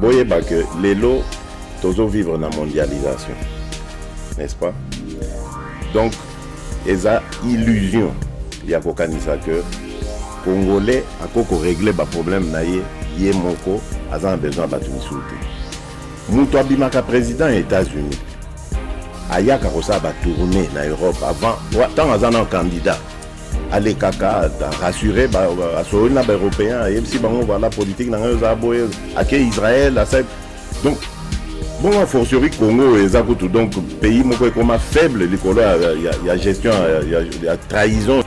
boyeba que lelo tozo vivre na mondialisation n'est-ce pas donc eza illusion ya kokanisa que congolais akoki koregle baproblème na ye ye moko aza na besoin ya bato mosusu te moto abimaka président ya états-unis ayaka kosala batourne na europe avant ntango aza na candidat alekaka rassure asololi na baeuropéen ayebisi bango voilà politique na ngai oza boye ake israel asali donc bongo fortiori congo eza kutu donc pays moko ekoma faible likolo ya, ya, ya gestion ya, ya, ya trahison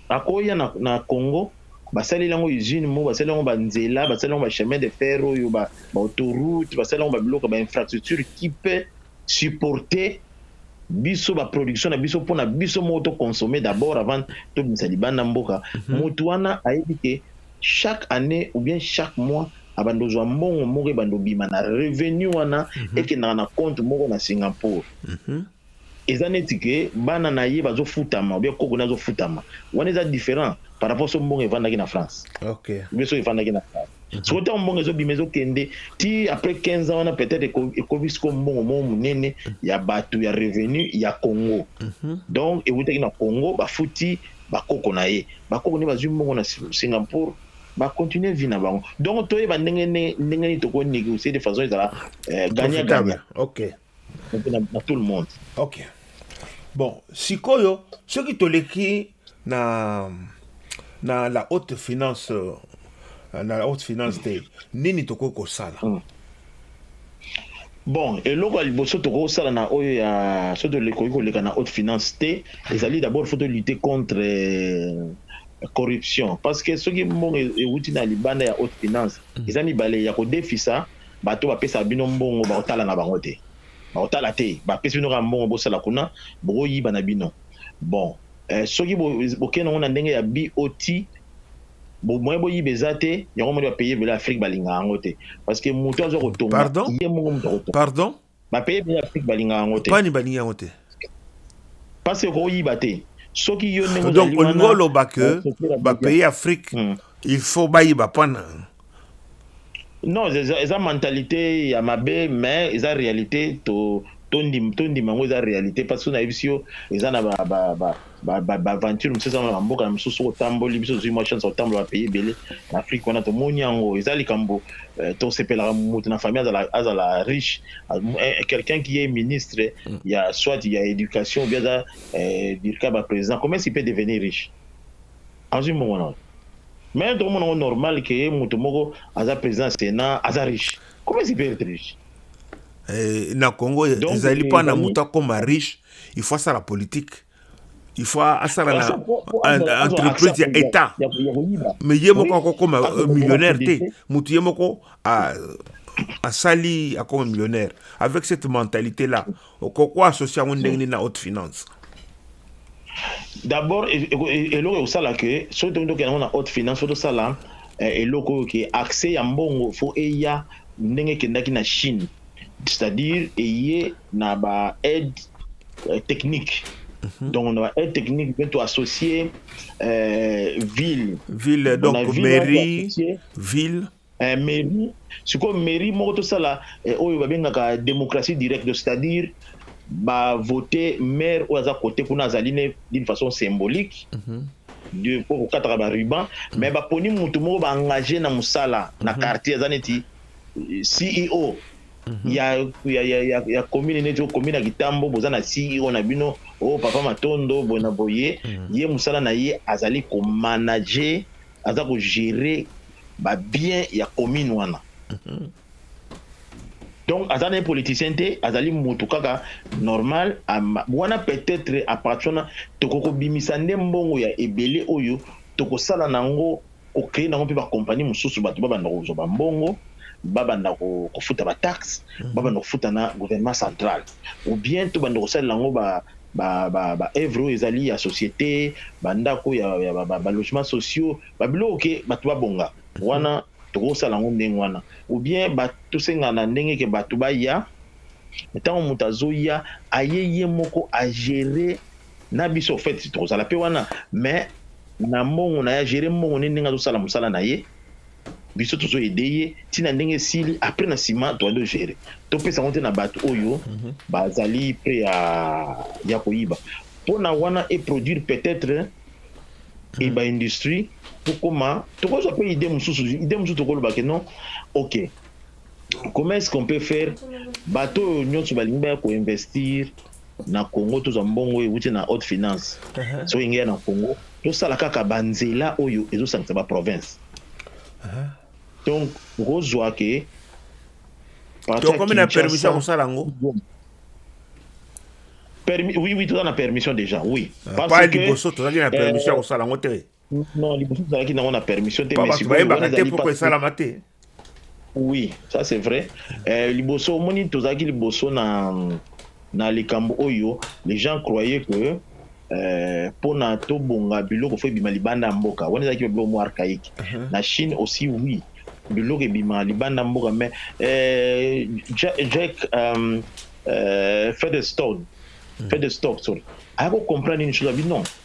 akoya na, na congo basali yango usine moko basali yango banzela basali yango bachemin de fer oyo baautourute basali yango babiloko bainfrastructure kipe supporter biso ba production na biso pona biso moko to consommer d'abord avant to bisa libanda mboka mhm. mutu wana ayebi ke chaque année ou bien chaque mois abanda ozwa mbongo moko ebanda obima na revenu wana mhm. ekendaka na compte moko na Singapour mhm. eza neti ke bana na ye bazofutama obia koko na azofutama wana eza différent par rapport so mbongo evandaki na France okay. obia so evandaki na France soko ntango mbongo ezobima ezokende ti après 15 ans wana peut-être ekomi siko mbongo moko monene ya bato ya revenu ya congo mhm. donc ewutaki na congo bafuti bakoko na ye bakoko nde bazwi mbongo na singapour bacontinue vie na bango donc toyeba ndenge ndenge nini tokonegocier de façon ezala eh, gagna gagna na tout le monde ok bon sikoyo soki toleki na na la haute finance euh, na la haute finance te nini tokoki kosala mm. bon eloko ya liboso tokoki kosala na oyo ya soki tokoki koleka na haute finance te ezali d'abord faut tolutte contre euh, corruption parce que soki mbongo ewuti na libanda ya haute finance mm. eza mibale ya kodefisa Bato oyo bapesaka bino mbongo bakotala na bango te. Bakotala te. Bapesi bino kaka mbongo bosala kuna, bokoyiba na bino. Bon, eh, soki bo, bokei nango na ndenge ya BOT, bo moyen boyiba eza te, yango moni ba pays ebele Afrique balingaka yango te. Parce que moto azwa kotonga, ye moko moto akotonga. Pardon? Pani balingi yango te. Donc olingi oloba que ba pays Afrique il faut bayiba pan na yango? Non eza mentalite ya mabe mais eza realite to tondima yango eza realite parce que soki nayebisi yo eza na ba ba ba ba aventure mosusu eza na mboka na mosusu otamboli biso tozwi mwa chance ya kotambola ba pays ebele na Afrique wana tomoni yango eza likambo euh, tosepelaka moto na famille azala, azala riche euh, quelqu'un qui est ministre mm. ya soit ya éducation bien aza euh, dirka ba président comment il peut devenir riche azwi mbongo na mais tokomona yango normal ke moto moko aza président ya sénat aza riche comment il peut être riche eh, na congo ezali mpo na moto akoma riche il faut asala politique il faut asala na entreprise ya état mais ye moko akokoma euh, millionnaire te motu ye moko asali akoma millionnaire avec cette mentalité là okoko associe yango ndenge nini na haute finance d'abord e, e, e, eloko ekosala ke soki tomi tokenda yango na haute finance fo tosala eh, eloko oyo ke accès ya mbongo fo eya ndenge ekendaki na chine c'est à dire eye na ba aide euh, technique mhm. donc na ba aide technique mpe toassocie euh, ville ville donc mairie ville eh, mairie sikoyo mairie moko tosala eh, oyo babengaka démocratie directe c'est à dire bavote maire oyo aza kote kuna azali ne d'une façon symbolique mm -hmm. mpo kokataka baruban mais baponi motu moko baengage na mosala na mhm. quartier eza neti CEO mhm. ya, ya, ya, ya, ya commune neti okomi na kitambo boza na CEO na bino o oh, papa matondo boye na boye mhm. ye mosala na ye azali komanager aza kogere babien ya commune wana mhm. donc aza na politicien te azali motu kaka normal wana peut-être apartir wana tokoki kobimisa nde mbongo ya ebele oyo tokosala na yango ko creer nango pe ba compagnie mususu batu ba banda kozua ba mbongo ba banda ko futa ba taxe ba banda kofuta na gouvernement central ou bien to banda kosalela yango ba ba oeuvre oyo ezali ya societe ba ndako ya ba logement sociaux ba biloko ke batu ba bonga wana toko sala yango ndenge wana ou bien ba to senga na ndenge ke batu baya tango mutu azoya aye ye moko a gerer na biso au fait tozala mpe wana mais na mbongo na ye agere mbongo nde ndenge azosala mosala na ye biso tozo ede ye ntina ndenge esili après na nsima toyali ogere topesa yango te na bato oyo mhm. bazali mpe ya, ya koyiba mpona wana eproduire peut-être mhm. eba industrie tokoma tokozwa mpe ide mosusu ide mosusu tokolobake non ok comment est-ce qu'on peut faire bato oyo nyonso balingi baya koinvestir na Congo tozwa mbongo oyo ewuti na haute finance soki ngeya na Congo tosala kaka banzela oyo ezosangisa ba province donc okozwa ke tokomi na permission ya kosala yango oui oui toza na permission déjà oui ah, parce que liboso tozalaki na permission ya kosala yango te Non, liboso tozalaki nango na permission te, mais sikoyo bayebaka te pourquoi esalama te. Oui, ça c'est vrai. Euh, liboso omoni tozalaki liboso na na likambo oyo les gens croyaient que euh, pona tobonga biloko fo ebima libanda ya mboka wana ezalaki biloko mwa archaïque uh -huh. na chine aussi oui biloko ebima libanda mboka mais euh, jack, jack um, euh, featherstone mm. featherstock sorry ayako comprendre une chose abi non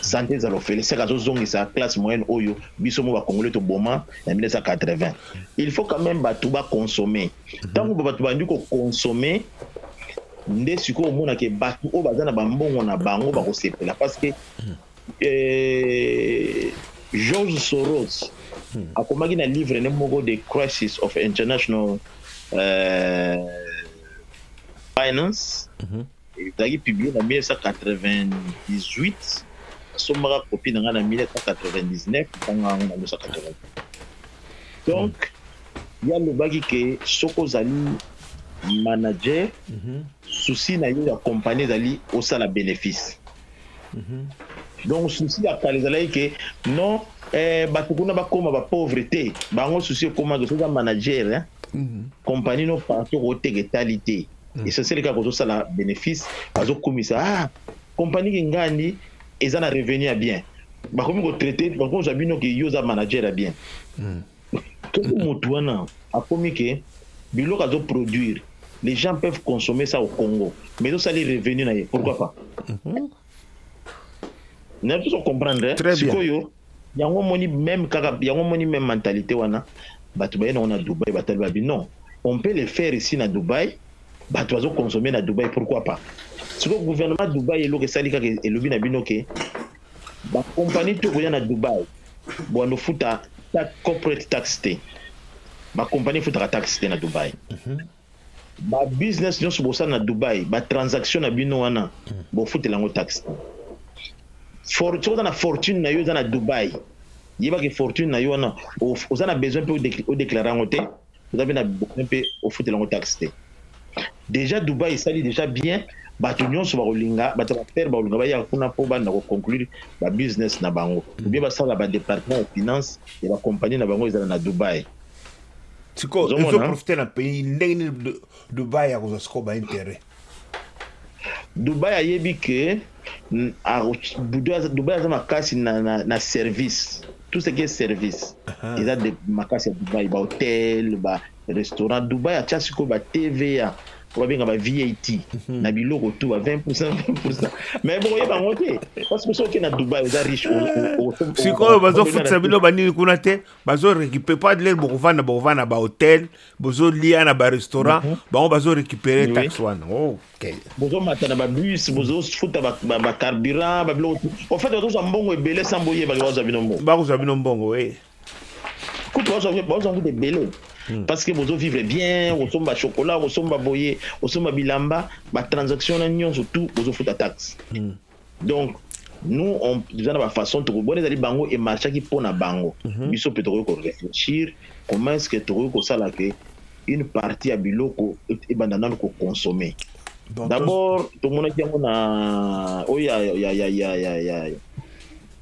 Sante zala ofele seke azozongisa classe moyenne oyo biso mo bakongole toboma na 1980 il faut quand même bato bakonsome ntango mhm. bato bandi kokonsome nde sikoyo omonake bato oyo baza na bambongo na bango bakosepela parce que mhm. eh, george soros mhm. akomaki na livre ne moko the crisis of international uh, finance mm -hmm. Ezalaki publie na 1998. Nasombaka copie na ngai na 1999, natangaka yango na 1998. Donc, ye alobaki ke soki ozali manager, souci na yo ya compagnie ezali osala benefice. Donc, souci ya kala ezalaki ke non, eh, bato kuna bakoma ba pauvre te. Bango souci ekomaki soki oza manager, compagnie no partout okoteka etali te. mm. essentiel kaka kozosala bénéfice bazokumisa ah, compagnie kingandi eza na revenu ya bien bakomi kotraite bakomi kozwa bino ke yo oza manager ya bien mm. soki motu wana akomi ke biloko azoproduire les gens peuvent consommer ça au congo mais ezosali revenu na ye pourquoi pas mm -hmm. na biso comprendre eh? sikoyo yango moni meme kaka yango moni meme mentalité wana bato baye nango na dubai batali babi non on peut le faire ici na dubai bato bazo consommer na dubai pourquoi pas sikoyo gouvernement dubai eloko esali kaka elobi na bino ke bakompani to koya na dubai bwando futa corporate tax te bakompani efutaka tax te na dubai mm -hmm. Ba business nionso bosala na Dubai, ba transaction na bino wana bofutela yango taxe. For, soki oza na fortune na yo eza na Dubai, yeba ke fortune na yo wana oza na besoin pe odeklare yango te, oza pe na besoin pe ofutela yango taxe te. Deja Dubai esali deja bien, bato nyonso bakolinga, bato ya affaire bakolinga baya kuna po banda koconclure ba business na bango, ou bien basala ba departement ya finance ya ba compagnie na bango ezala na Dubai. siko Ozomona? ezo profite na pays ndenge nini Du- dubai ya kozwa siko ba intérêt dubai ayebi ke mm, ako- Dubai aza- dubai aza makasi na, na, na service tout ce qui est service Aha. eza de makasi ya dubai bahotel barestaurant dubai atya sikoyo ba tva oyo babenga ba vat na biloko tu ba 20 20 mais bokoyeba yango te parce que soki okei na dubai oza riche o- o- o- o- sikoyo o- bazofutisa bino banini kuna te bazo récupérer pas lelo bokovanda bokovanda na ba hôtel bozo lia na ba restaurant mm -hmm. bango bazo récupérer oui. taxe wana okay. bozo mata na ba bus bozo futa ba, ba, ba carburant ba biloko en fait bazo za mbongo ebele sans boye ba bazo bino mbongo ba bazo bino mbongo eh kutu bazo bazo kutu ebele hmm. parce que bozo vivre bien osomba chocolat osomba boye osomba bilamba ba transaction na nyonso tout bozo futa taxe mm. donc nous on eza na ba façon toko bona ezali bango e marchaki mpo na bango mhm. biso mpe tokoki ko réfléchir comment est-ce que tokoki kosala ke une partie ya biloko ebanda nanu ko consommer d'abord tomonaki yango na oyo ya ya ya ya ya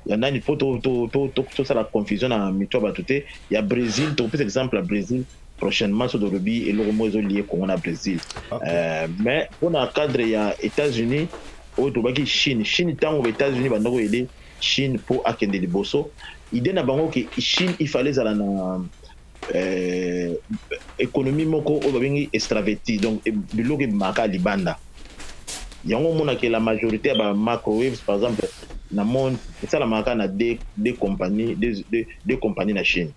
ya nani po tosala confusion na mitu ya bato te ya bresil tokopesa exemple ya bresil prochainement so tolobi eloko moko ezolie congo na bresil euh, mais mpona cadre ya états-unis oyo tobaki chine chine ntango états-unis bandaki oyede chine mpo akende liboso idée na bango ke chine ifale ezala na euh, économie moko oyo babengi extraverti donc e, biloko ebimaka libanda yango omonaka la majorité ya ba microwaves par exemple na monde esalamaka na de, de compagnie de, de, de compagnie na chine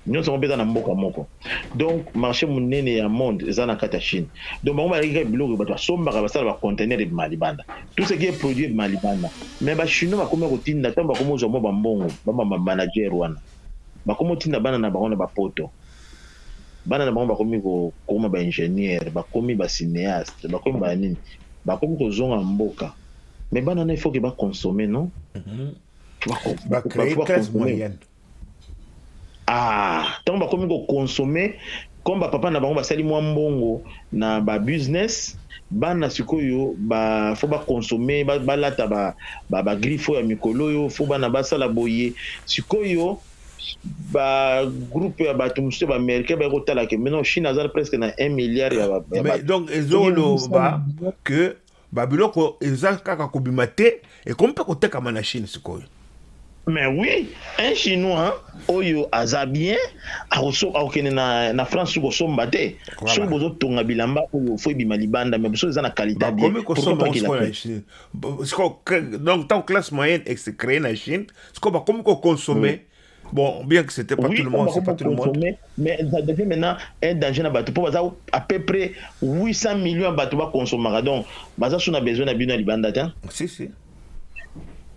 nyonso yango mpe eza na mboka moko donc marché monene ya monde eza na kati ya chine donc bango balaki kaka biloko bato basombaka basala bacontener ebima libanda tout ce qui est produit ebima libanda mais bachinois bakomi kotinda ntango bakomi kozwa mwa bambongo bamamanager wana Bakomo tinda bana na bango na ba poto. Bana na bango bakomi ko koma ba ingenieur, bakomi ba cineaste, bakomi ba nini. Bakomi ko zonga mboka. Mais bana wana il faut que ba consommer non? Ba cree classe moyenne. Ah, tango bakomi ko consommer Comme ba papa na bango basali mwa mbongo na ba business, bana sikoyo ba faut ba consommer, ba balata ba ba, ba griffes oyo ya mikolo oyo, faut bana basala boye. Sikoyo ba groupe ya batu mosusu ya ba americain baye kotala ke mais non Chine aza presque na un milliard ya ba, ya Mais batu. donc ezo loba que Ba biloko eza kaka kobima te, ekomi pe kotekama na chine sikoyo. Mais oui un chinois oyo aza bien akokende na France suki kosomba te soki bozo tonga bilamba oyo faut ebima libanda mais soki eza na qualite ya bien pourquoi pas ki la chine donc tango classe moyenne est cree na chine sikoyo bakomi ko consommer Bon, bien que c'était pas oui, tout le monde, c'est pas tout le monde. Mais ça devient maintenant un danger na bato. Pour baza à peu près 800 millions bato ba consommera. Donc, baza sous na besoin na bino libanda ta. Si si.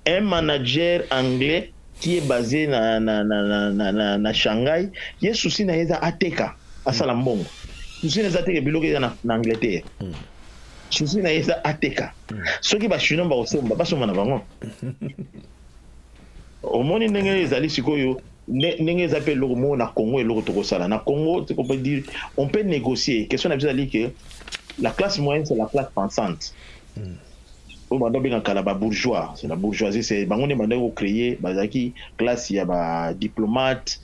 Un manager anglais qui est basé na na na na na, na, na Shanghai, il est souci na yeza ateka asala mbongo. Souci na zateka biloko ya na, na Angleterre. Mm. Souci na yeza ateka. Mm. Soki ba chinois ba osomba, ba somba na bango. Omoni ndenge ezali sikoyo ndenge eza mpe eloko moko na Congo, eloko tokosala na Congo, on peut dire on peut négocier. Question na biso ezali que la classe moyenne c'est la classe pensante hmm. oyo banda obenga kala ba bourgeois, c'est la bourgeoisie, c'est bango nde banda kocreye, bazalaki classe ya ba diplomate,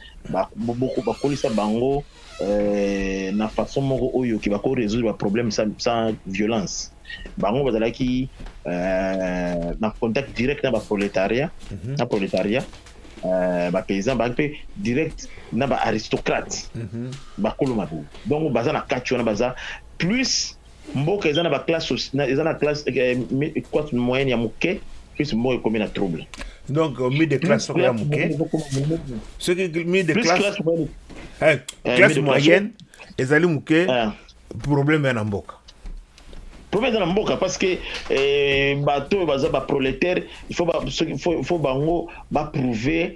bakolisa bango euh, na façon moko oyo ke bako résoudre ba problème sans, sans violence bango bazalaki euh, na contact direct na ba prolétariat mm -hmm. na prolétariat euh, ba paysan ba mpe direct na ba aristocrate mm -hmm. bakolo mabe donc baza na kati wana baza plus Mboka eza na ba classe eza na classe quoi eh, moyenne ya muke plus mboka ekomi na trouble. Donc euh, mi de classe soko ya muke. Ce qui mi de classe eh, eh, classe moyenne ezali muke problème ya na mboka. Problème eza na mboka parce que bato oyo baza ba prolétaire il faut bango ba prouver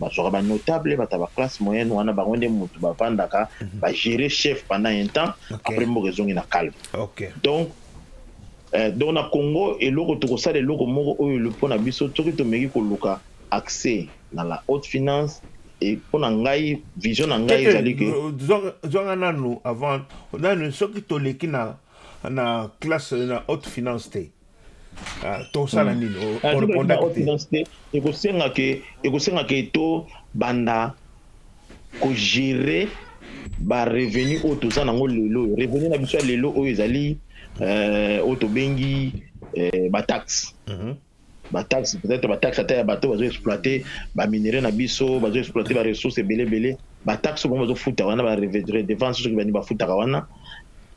bazwaka ba notable bata ba classe moyenne wana bango nde mutu bavandaka mhm. ba gérer chef pendant un temps okay. après mboka ezongi na calme okay. donc eh, donc na Congo eloko tokosala eloko moko oyo mpo na biso soki tomeki koluka accès na la haute finance et mpo na ngai vision na ngai ezali ke zwanga nanu avant nanu soki toleki na na classe na haute finance te tosala nini ekosenga ke to banda kogere barevenu oyo toza nango lelo oyo revenu na biso ya lelo oyo ezali euh, oyo tobengi euh, bataxe mhm. bataxe peut-être bataxe ata ya bato bazo exploite baminerai na biso bazo exploite baressource ebele ebele bataxe bango bazofuta wana baredevance soki bani bafutaka wana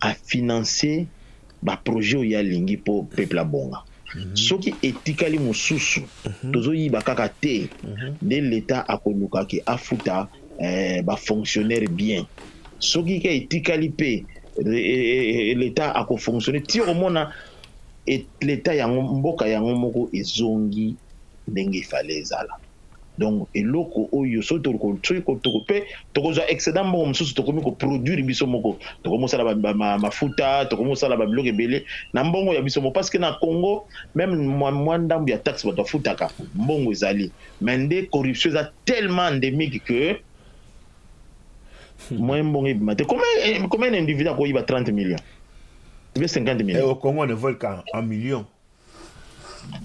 a finance ba projet oyo ye alingi po peuple abonga soki etikali mususu tozo yiba kaka te nde l'etat akoluka ke afuta ba fonctionnaire bien soki ka etikali pe l'etat ako fonctionne ti okomona l'etat yango mboka yango moko ezongi ndenge il fallait ezala. donc eloko oyo soki toko pe tokozwa excedent mbongo mosusu tokomi ko produire biso moko tokomi kosala mafuta tokomi kosala ba biloko ebele na mbongo ya biso moko parce que na Congo meme mwa ndambu ya taxe bato bafutaka mbongo ezali mais nde corruption eza tellement endemique que moyen mbongo ebima te combien combien individu akoyiba 30 millions ou bien 50 millions eh, au Congo on ne vole qu'en millions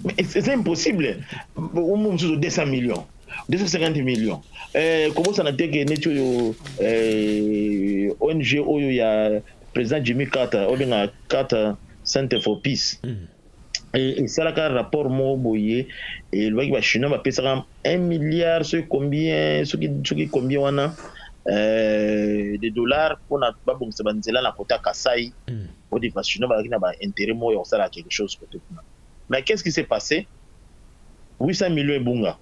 Mais c'est impossible. Au moins, 200 millions. 250 millions eh, kobosana te ke neti oyo eh, ong oyo ya président jimmy carter obenga carter center for peace mm. esalaka rapport moko boye elobaki bachinois bapesaka 1 milliard soki combien soki, soki combien wana eh, de dollars mpona babongisa banzela na kota kasai mm. Body Basshino bazalaki na ba interet moko ya kosala quelque chose cote kuna mais qu'est ce qui s'est passe? 800 millions ebunga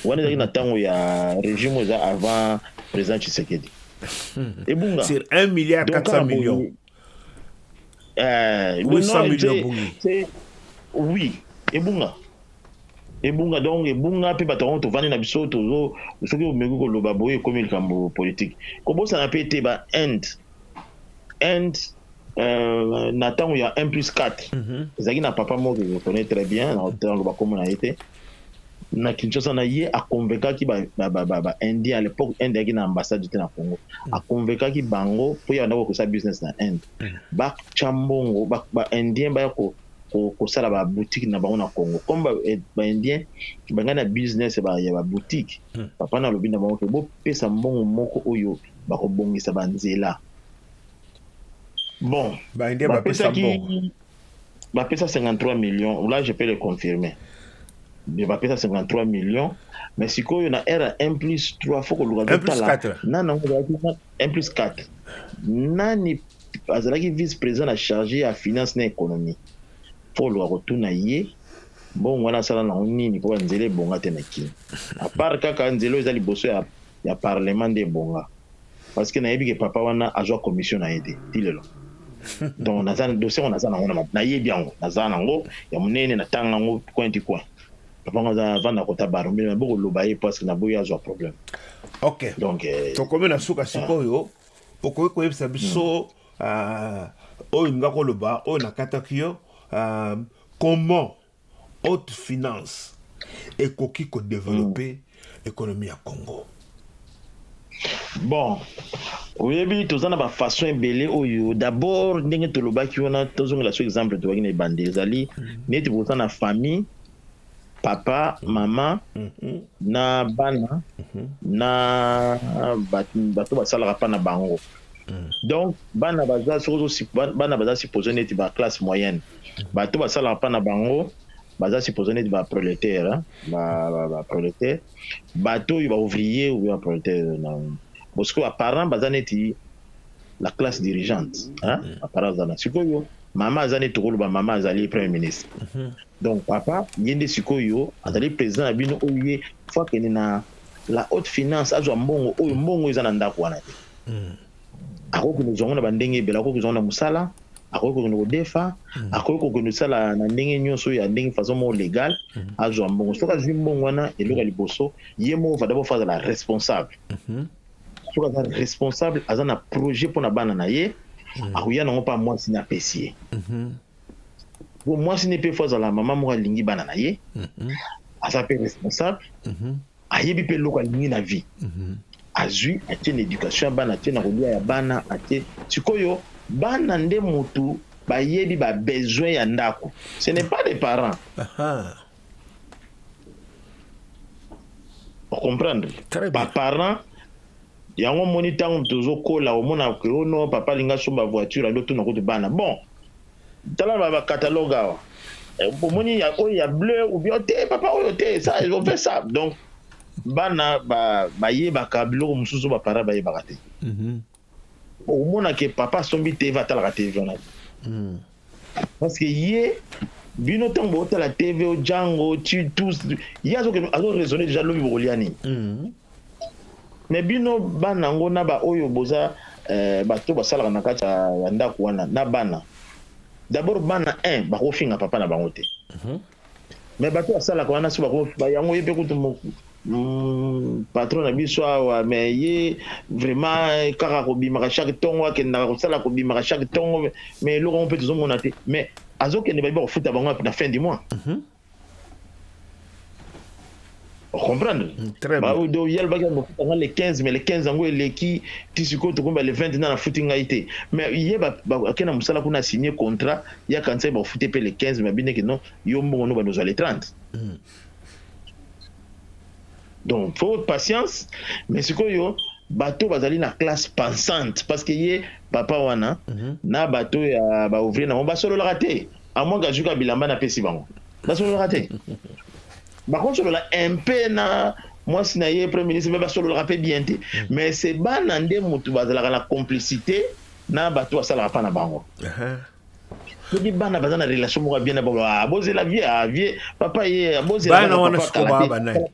wana ezalaki na tango ya regime oyo eza avant president Tshisekedi ebunga sur 1 milliard Donc, 400 kaka boye, millions eh, 800 non, millions c'est- ebungi. c'est- oui ebunga ebunga donc ebunga mpe bato yango tovandi na biso tozo soki omeki koloba boye ekomi likambo politique kobosana mpe ete ba inde and euh, na ntango ya 1 plus 4 mm -hmm. ezalaki na papa moko je connais très bien na ntango bakomo na ye te na kinshasa na ye aconvekaki baindien ba, ba, ba, à l'époque inde yaki na ambassade te na congo mm. aconvekaki bango mpo ya bandaki kokosala business na inde mm. batya mbongo baindien baya ko kosala ba boutique na bango na congo comme eh, baindien bangai na business ya ba boutique mm. papa na alobi na bango ke bopesa mbongo moko oyo bako bongisa ba nzela bon ba pesaki ba pesa 53 millions ou là je peux le confirmer mais ba pesa 53 millions mais sikoyo na era 1 plus 3 faut koluka totala nani yango ezalaki 1 plus 4 nani azalaki vice président na charge ya finance na économie faut koluka kotuna ye mbongo wana asala nango nini mpo banzela ebonga te na kini apart kaka nzela oyo eza liboso ya ya parlement nde ebonga parce que nayebi ke papa wana azua commission naye te ti lelo donc naza dossier ngo naza nango na nayebi yango naza nango ya munene na tanga ngo coin du coin papa ngo aza vanda kota baro mais na boko loba ye parce que na boyi azua problème ok donc euh, tokomi na suka sikoyo okoki koyebisa biso ah, oyo nga koloba oyo nakataki yo ah, comment Haute finance ekoki ko developper mm. economie ya Congo. Bon, oyebi toza na ba façon ebele oyo d'abord ndenge tolobaki wana tozongela so exemple tobaki na ebandi ezali mm. neti boza na famille papa mm. mama mm -hmm. na bana mm -hmm. na bato basalaka mpa na bango Hmm. donc bana baza soki bana baza supposé neti ba classe moyenne hmm. bato basalaka mpa na bango baza supposé neti ba prolétaire hein. ba, ba, ba prolétaire bato oyo ba ouvrier ou ba prolétaire bosikoyo apparent baza neti la classe dirigeante hein? Hmm. apparent baza na sikoyo mama aza neti tokoloba mama azali premier ministre donc papa ye nde sikoyo azali président na bino oyo ye fo akende na la haute finance azwa mbongo oyo mbongo eza na ndako wana te hmm. akoki kokende kozwa yango na bandenge ebele akoki kozwa yango na mosala akoki kokende kodefa hmm. akoki kokende kosala na ndenge nyonso ya ndenge façon moko legal hmm. azwa mbongo soki azwi mbongo wana eloko ya liboso ye moko va dabord fo azala responsable soki aza responsable aza na projet mpo na bana na ye akoya nango mpa mwasi na apesi ye Bon, mwasi ne pe fo azala mama moko alingi bana na ye mm -hmm. aza pe responsable mm -hmm. ayebi pe eloko alingi na vie mm -hmm. azwi atie na education ya bana atie na kolia ya bana atie sikoyo bana nde motu bayebi ba besoin ya ndako ce n'est pas les parents comprendre ba parents Yango omoni tangu tozo kola omona que oh non papa alingi asomba voiture ado tuna kutu bana bon tala ba ba catalogue awa omoni ya oyo ya bleu ou bien te papa oyo te ça on fait ça donc bana ba bayebaka biloko mosusu ba parents bayebaka te mm -hmm. omona que papa asombi TV atalaka TV wana mm. Parce que ye bino ntango botala tv o django titus ye azo raisonne déjà lobi bokolia nini mm. mais bino bana yango na baoyo boza eh, bato basalaka na kati ya ndako wana na bana d'abord bana 1 bakofinga papa na bango te mm -hmm. Mais batu ya salaka wana si bako ba yango yepe kutu Mm, patron na biso awa me ye vraiment kaka kobimaka chaque ntongo akendaka kosala kobimaka chaque ntongo me eloko yango mpe tozomona te mais azokende bayebi bakofuta bango na fin du mois mm -hmm. ocomprendre mm, baodo ye alobaki akofuta ngai le 15 mais le 15 yango eleki ti sikoyo tokomba le 20 nana afuti ngai te mais ye akei na mosala kuna asigne contrat ye akanisaki bakofute mpe le 15 mais abineke non yo mbongo no bando ozwa le 30 mm. donc fo patience mais sikoyo bato bazali na classe pensante parce que ye papa wana mm -hmm. na bato ya baouvrier na bango basololaka te a moins qu'azwi ka bilamba napesi bango basololaka te bakosolola un peu na mwasi na ye premier ministre me basololaka mpe bien te hmm. mais se bana nde motu bazalaka na complicité na bato basalaka mpa na bango soki bana baza na relation moko ya bien na bango ah, bozela vie ah, vie papa ye ah, bozela bana wana sikoyo baa banani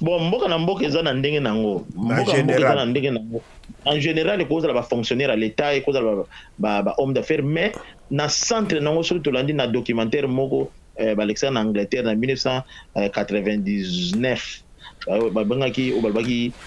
Bon mboka na mboka eza na ndenge na yango, mboka na mboka eza na ndenge na yango. En general ekoki kozala ba fonctionnaires ya l'Etat, ekoki kozala ba ba hommes d'affaires mais na centre na yango soki tolandi na documentaire moko eh, balekisa na Angleterre na 1999 babengaki oyo balobaki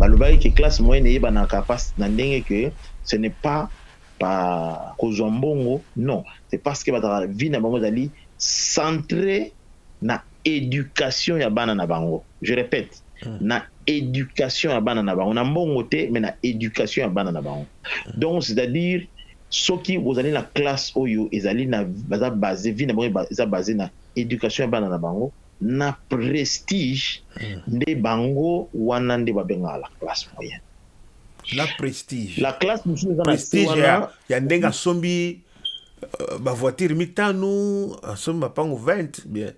balobaki ke classe moyenne eyebanaka pasi na ndenge ke ce n'est pas pa kozwa mbongo non c'est parce que bazalaka vie na bango ezali centre na éducation ya bana na bango je répète hmm. na éducation ya bana na bango na mbongo te mais na éducation ya bana na bango hmm. donc c'est-à-dire Soki bozali na classe oyo ezali na baza base vie na bango eza base na education ya bana na bango na prestige nde bango wana nde ba bengaka la classe moyenne na prestige la classe mosusu eza na se wana ya ndenge asombi euh, ba voiture mitano asombi mapango 20 bien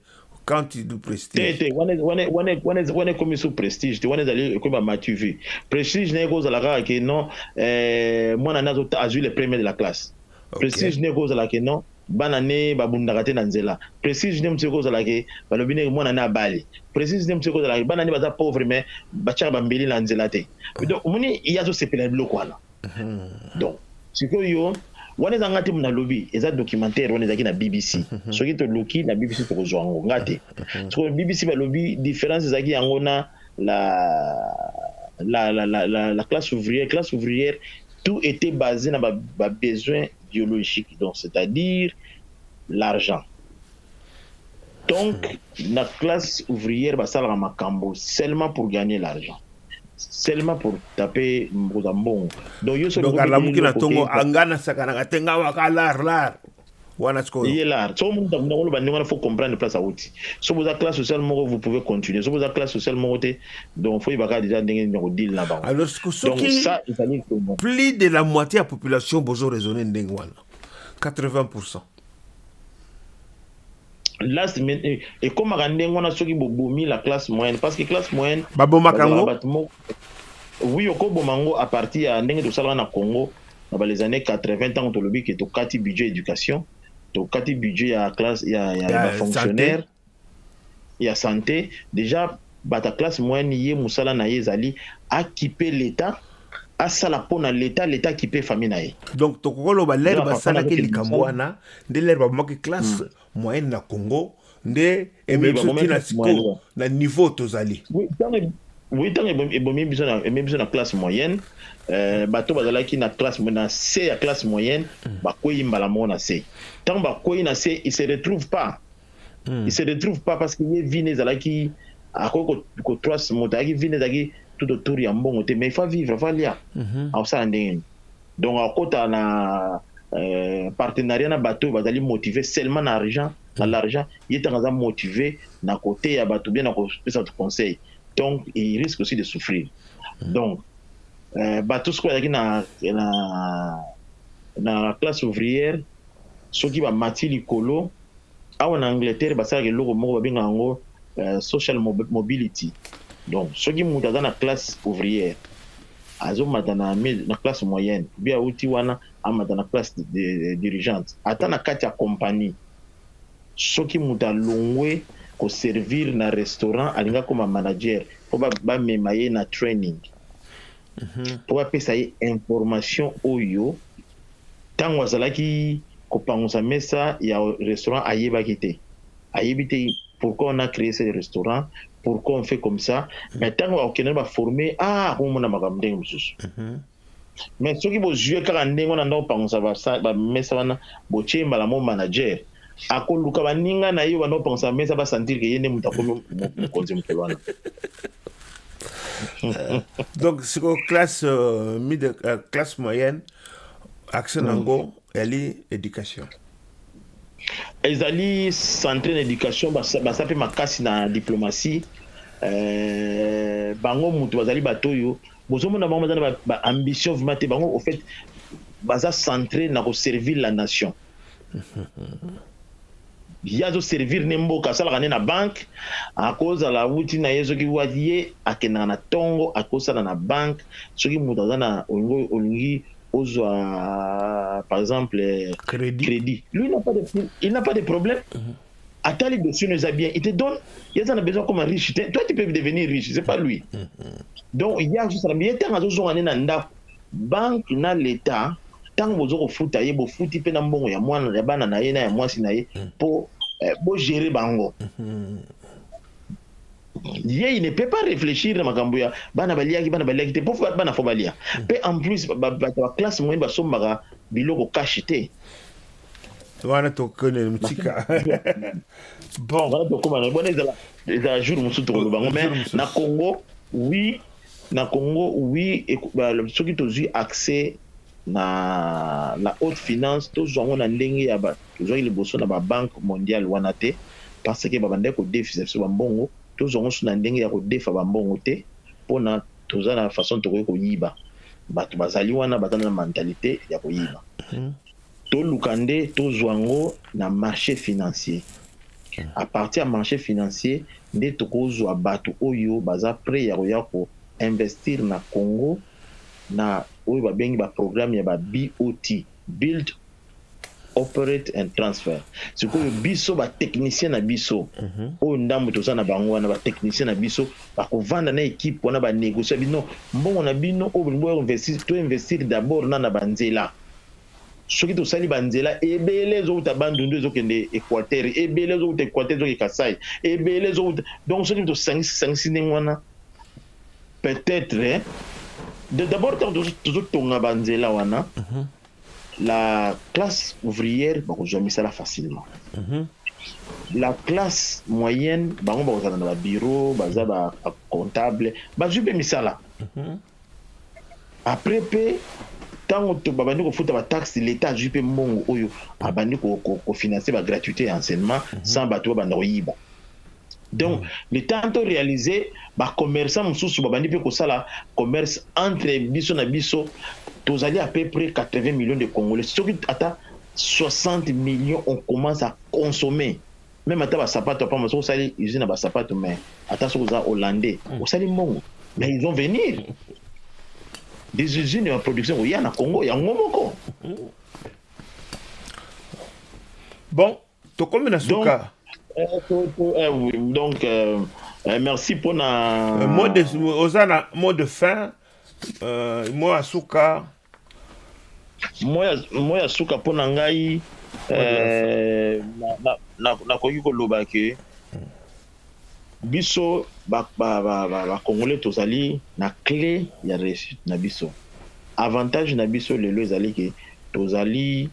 Quand tu dis prestige. Te te wana wana wana wana wana ekomi sous prestige te wana ezali ekomi ba matu vie prestige na ye ekozala kaka ke non eh, mwana ne azwi le premier de la classe okay. prestige ne ekozala ke non bana ne babundaka te na nzela prestige ne mosu ekozala ke balobi ne mwana ne abali prestige ne mosu ekozala ke bana ne baza pauvre mais batyaka bambeli na nzela te donc omoni ye azosepela na biloko wana donc sikoyo wana eza nga te mona lobi eza documentaire wana ezalaki na bbc soki toluki na bbc tokozwa yango nga te sikoyo bbc balobi différence ezalaki yango na la la, la, la, la, la classe ouvrière classe ouvrière tout était basé na ba, ba besoin biologique donc c'est-à-dire l'argent Donc na classe ouvrière basalaka makambu seulement pour gagner l'argent seulement pour taper kozwa mbongo donc yo soki olobi alamuki na tongo anga na sakanaka te nga waka lar lar wana sikoyo ye lar so mutu akunda koloba ndenge wana faut comprendre place awuti so boza classe sociale moko vous pouvez continuer so boza classe sociale moko te donc faut yebaka deja ndenge nini kodile na bango alors soki plus de la moitié ya population bozo raisonner ndenge wana 80 last minute ekomaka ndenge wana soki bobomi la classe moyenne parce que classe moyenne babomaka yango bato moko oui okoboma yango à partir ya ndenge tosalaka na Congo na ba les années 80 ntango tolobi ke tokati budget éducation tokati budget ya classe ya, ya, ya, ya fonctionnaire ya sante dejà bato ya classe moyenne ye musala na ye ezali a kipe l'etat asala pona l'etat l'etat akipe famille na ye. Donc tokoki koloba lere basalaki likambo wana nde lere babomaki classe hmm. moyenne na Congo nde ememi biso ti na sikoyo na niveau tozali. Oui, ntango ebomi biso na ememi biso na classe moyenne euh, bato bazalaki na classe na se ya classe moyenne hmm. bakwei mbala moko na se ntango bakwei na se il se retrouve pas il se retrouve pas parce que ye vie ne ezalaki akoki kotrust moto ayaki vie ne ezalaki tout autour ya mbongo te mais il faut vivre faut alia mhm. akosala ndenge nini donc akota na euh, partenariat na bato oyo bazali motive seulement na argent na mhm. l'argent ye ntango aza motive na koteya bato bien na kopesa bato conseil donc il risque aussi de souffrir mhm. donc euh, bato soki bazalaki na, na, na classe ouvrière soki bamati likolo Awa na Angleterre basalaka eloko moko babengaka yango euh, social mobility. Donc soki moto aza na classe ouvrière azomata na, na classe moyenne bi auti wana amata na classe dirigeante, ata na kati ya compagnie, soki moto alongwe koservir na restaurant alinga koma manager mpo bamema ba ye na training mpo mhm. bapesa ye information oyo Ntango azalaki kopangusa mesa ya restaurant ayebaki te ayebi te pourquoi on a cree ce restaurant pourquoi on fait comme ça mais ntango akokende na baforme ah akomona makambo ndenge mosusu mais soki bozue kaka ndenge wana nda kopangusa bamesa wana botie mbala mo manager akoluka baninga na ye oyo banda kopangusa mesa basentir ke ye nde moto akomi mokonzi mokolo wana donc sikoyo classe euh, mide euh, classe moyenne axe nango yali education ezali centre na education basa mpe makasi na diplomatie euh, bango moto bazali bato oyo bozomona bango baza na baambition ba vraiment te bango au fait baza centre na koservir la nation ye azo servir ne mboka asalaka ne na banque akozala wuti na ye soki wati ye akendaka na tongo akosala na banque soki moto aza na olingi olingi ozwa par exemple credit, credit. lui n'a pas de, il n'a pas de problème mm -hmm. atali dossier eza bien il te donne ye aza na besoin comme riche te toi tu peux devenir riche c'est pas lui donc ye azosala ye ntango azozonga nde na ndako banque na l'etat ntango bozo kofuta ye bofuti mpe na mbongo ya mwana ya bana na ye na ya mwasi na ye mpo eh, bogere bango ye il ne peut pas réfléchir na makambo ya bana baliaki bana baliaki te mpo bana fo balia mpe en plus bato ya classe moyenne basombaka biloko cash te wana tokende motika bon wana tokoma na bona ezala ezala jour mosusu tokoloba ngo mais na congo oui na congo oui soki tozwi accès na la haute finance tozwa ngo na ndenge ya tozwaki liboso na babanke mondiale wana te parce que babandaki kodefisa biso bambongo tozwa ngo so na ndenge ya kodefa bambongo te mpona toza na façon tokoki koyiba bato bazali wana baza na mentalite ya koyiba mhm. Toluka nde tozwa yango na marche financier. A partir ya marche financier nde tokozwa bato oyo baza pret ya koya ko investir na Congo na oyo babengi ba programme ya ba BOT, Build, Operate and Transfer. Sikoyo biso ba techniciens na biso oyo ndambo toza na bango wana ba techniciens na biso bakovanda na equipe wana ba negocier na bino mbongo na bino oyo bolingi bo investir to investir d'abord na na ba nzela. soki tosali ba nzela ebele ezowuta bandundu ezokende equateur ebele ezowuta equateur ezoke kasai ebele ezowuta donc soki tosangisi sangisi ndenge wana peut-être eh, d'abord ntango tozotonga banzela wana mm -hmm. la classe ouvrière bakozwa misala facilement mm -hmm. la classe moyenne bango bakozala na babiro baza ba comptable bazwi mpe misala mm -hmm. Après pe tango to babandi kofuta ba taxes l'etat azui pe mbongo oyo abandi ko ko financer ba gratuites ya enseignement mm -hmm. sans bato babanda koyiba donc mm -hmm. le temps to realiser ba commerçants mosusu babandi pe kosala commerce entre biso na biso tozali à peu près 80 millions de congolais soki ata 60 millions on commence à consommer Meme ata ba sapato ya pamba soki osali usine ya ba sapato mais ata soki oza hollandais hmm. osali mbongo mais ils vont venir des usines ya production koya na Congo yango moko bon tokomi na suka donc euh, euh, merci mpona euh, oza na mot de fin mot ya suka Mot ya suka mpo na ngai eh, nakoki koloba ke biso bakongole tozali na cle ya reussite na biso avantage na biso lelo ezali ke tozali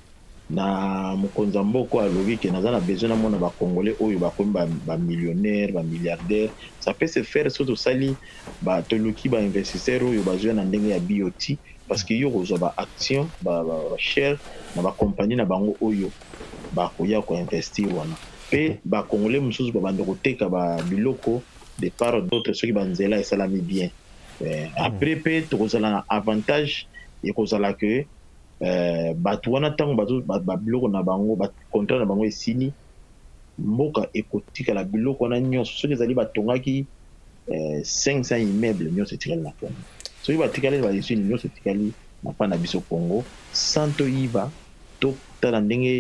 Na mokonzi ya mboka oyo alobi que naza na besoin na mona ba congolais oyo bakomi ba millionaire, ba milliardaire, ça peut se faire soki tosali ba toluki ba investisseur oyo bazoya na ndenge ya BOT parce que yo okozua ba action ba share na ba compagnie na bango oyo bakoya ko investir wana pe ba congolais mususu ba banda koteka ba biloko de part d'autre soki ba nzela esalami bien après pe tokozala na avantage ekozala que Batu wana tango bazo ba biloko na bango ba contrat na bango esili mboka ekotikala biloko wana nionso soki ezali batongaki 500 immeuble nionso etikali na congo soki batikali ba usine nionso etikali na pa na biso congo sans toyiba totala ndenge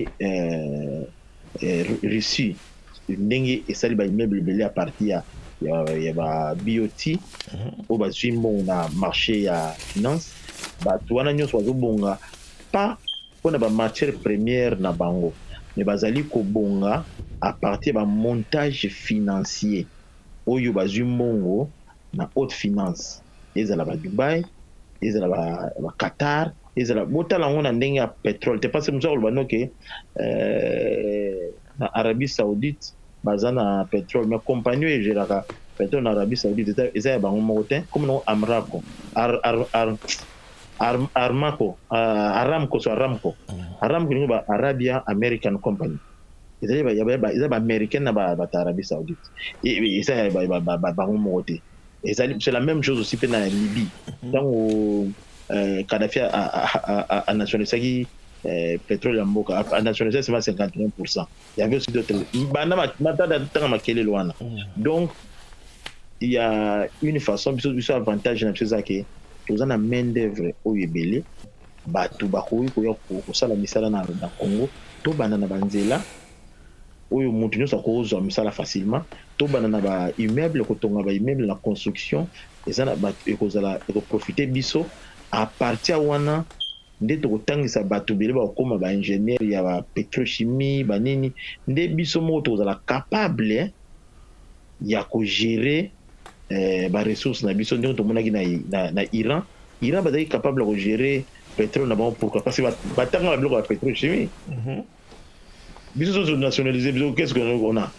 Russie ndenge esali ba immeuble ebele a partir ya ya ba BOT oyo bazwi mbongo na marche ya finance, bato wana nyonso bazobonga pas mpo na ba matières premières na bango mais bazali kobonga a partir ya ba montages financiers oyo bazwi mbongo na haute finance ezala ba Dubai ezala ba Qatar ezala botala yango na ndenge ya petrole te parce que moto azo loba no ke na Arabie Saoudite baza na petrole mais compagnie oyo egeraka petrole na Arabie Saoudite eza ya bango moko te comme nango Amraco ar, ar, ar, ar, Armaco Aramco so Aramco Aramco ni ba Arabia American Company Eza ya ba ya ba eza ya ba americain na ba batu ya Arabie Saoudite et eza ya ba ba ba bango moko te ezali c'est la même chose aussi pe na Libye tango euh, Kadhafi a, a, a, a, a, a nationalisaki euh, petrole ya mboka a, a nationalisaki seulement 51% il y avait aussi d'autres banda matata tanga makelele wana mm. donc il y a une façon biso biso avantage na biso eza ke toza na main d'œuvre oyo ebele Bato bakoki koya kosala misala na Congo tobanda na ba nzela oyo mutu nionso akoki kozwa misala facilement tobanda na ba immeuble kotonga ba immeuble na construction eza na bato ekozala eko profite biso a partir wana nde tokotangisa bato ebele bakokoma ba ingenieur ya ba petrochimie ba nini nde biso moko tokozala capable ya ko gerer ba ressources na biso ndenge tomonaki na Iran. Iran bazalaki capable ya ko gerer petrole na bango pourquoi? Parce que batanga ba biloko ya petrochimie. Mhm. Biso soso nationaliser biso qu'est-ce qu'on a?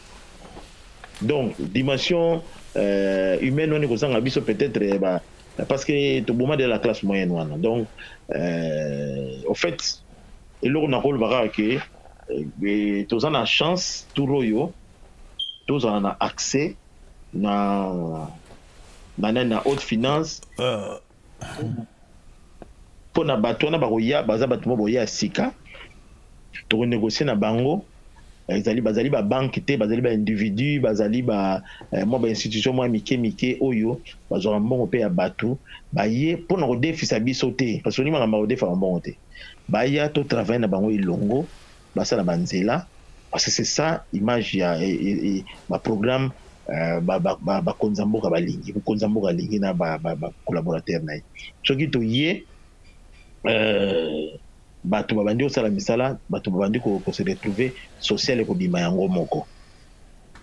Donc dimension euh, humaine wana ekozanga biso peut-être eh, ba parce que toboma de la classe moyenne wana donc euh, au fait eloko nakolobaka ke eh, toza na chance tour oyo tozala na accès na na nani na haute finance euh. mpo na bato wana bakoya baza bato mo boya ya sika tokonegocie na bango ezali bazali babanke te bazali baindividu bazali ba, eh, mwa bainstitution mwa mike mike oyo bazwaka mbongo mpe ya bato baye mpo na kodefisa biso te parce que makambo ya kodefaka mbongo te baya to travaille na bango elongo basala ba nzela parce que c'est ça image ya ba programme euh, bakonzi ya mboka balingi mokonzi ya mboka alingi na bacollaborateur na ye soki toye euh, bato babandi kosala misala bato babandi kose retrouver social ekobima yango moko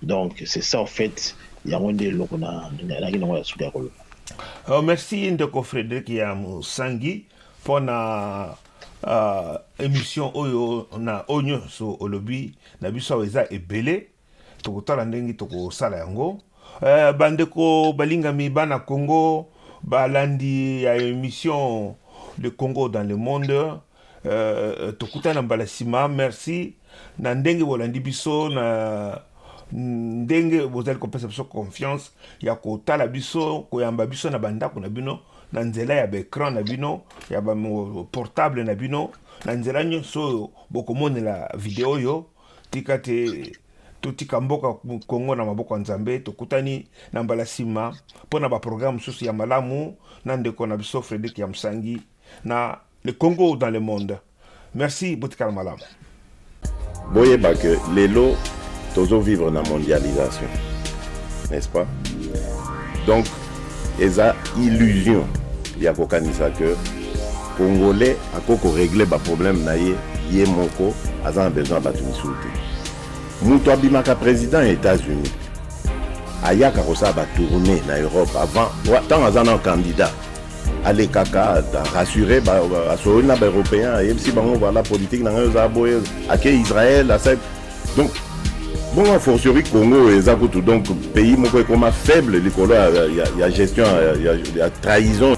donc c'est ça en fait yango nde eloko nalaki nango ya suka ya koloba oh, merci ndeko frédéric ya mosangi mpo na Uh, emission oyo na oyo nyonso olobi na biso awa eza ebele tokotala ndenge tokosala yango uh, bandeko balingami bana congo balandi ya emission le congo dans le monde uh, tokutana mbala nsima merci Na ndenge bolandi biso, na ndenge bozali kopesa biso confiance ya kotala biso, koyamba biso na bandako na bino, na nzela ya baecran na bino, ya baportable na bino, na nzela nyonso oyo bokomonela video oyo, tika te totika mboka kongo na maboko ya nzambe tokutani na mbala nsima mpo na baprograme mosusu ya malamu na ndeko na biso fredrik ya mosangi na le congo dans le monde Merci botikala malamu. Boyeba que lelo tozo vivre na mondialisation n'est-ce pas donc eza illusion ya kokanisa que congolais ako ko régler ba problème na ye ye moko aza na besoin ya bato misusu te moto abimaka président ya états-unis ayaka kosala batourne na europe avant ntango aza na candidat alekaka rassure asololi na baeuropéen ayebisi bango vala politike na ngai eza boye ake israel asali donc bongo a fortiori congo oyo eza kutu donc pays moko ekoma faible likolo ya, ya, ya gestion ya, ya, ya trahison